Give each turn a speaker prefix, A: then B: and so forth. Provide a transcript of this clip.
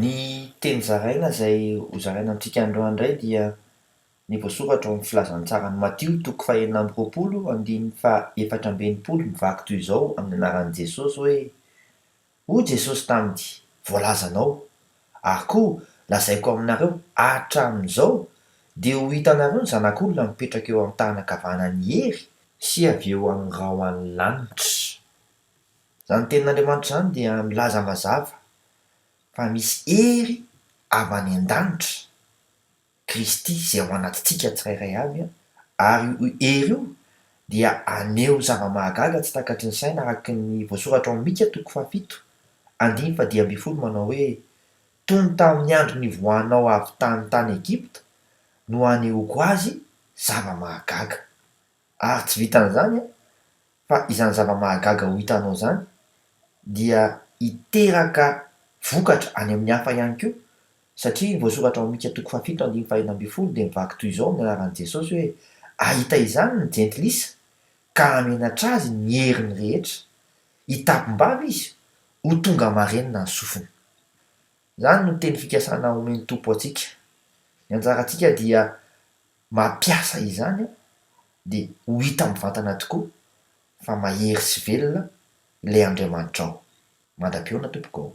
A: Ny teny zaraina izay ho zaraina amintsika androany indray dia ny voasoratra ao amin'ny Filazantsaran'i Matio toko fahenina amby roapolo andininy fahaefatra amby enimpolo mivaky toy izao amin'ny anaran'i Jesosy hoe, Hoy Jesosy taminy, Voalaza anao. Ary koa lazaiko aminareo, hatramin'izao dia ho hitanareo ny Zanak'olona mipetraka eo amin'ny tànana ankavanan'ny hery, sy avy eo amin'ny rahona ny lanitra. Izany Tenin'Andriamanitra izany dia milaza mazava fa misy hery avy any an-danitra, Kristy, izay ao anatintsika tsirairay avy, ary io hery io dia haneho zava-mahagaga tsy takatry ny saina araka ny voasoratra ao Mika toko fahafito andiny fahadimy ambin'ny folo manao hoe, Toy ny tamin'ny andro nivoahanao avy tany tany Egypta no hanehoako azy zava-mahagaga. Ary tsy vitan'izany an, fa izany zava-mahagaga ho hitanao izany dia hiteraka vokatra any amin'ny hafa ihany koa, satria ny voasoratra ao amin'ny Mika toko fahafito andininy fahenina ambin'ny folo dia mivaky toy izao amin'ny anaran'i Jesosy hoe, Hahita izany ny jentilisa, ka hamenatra azy ny heriny rehetra. Hitapim-bava izy, ho tonga marenina ny sofiny. Izany no teny fikasana omen'ny Tompo antsika. Ny anjarantsika dia mampiasa izany dia ho hita mivantana tokoa fa mahery sy velona ilay Andriamanitrao. Mandra-pihaona tompoko ô.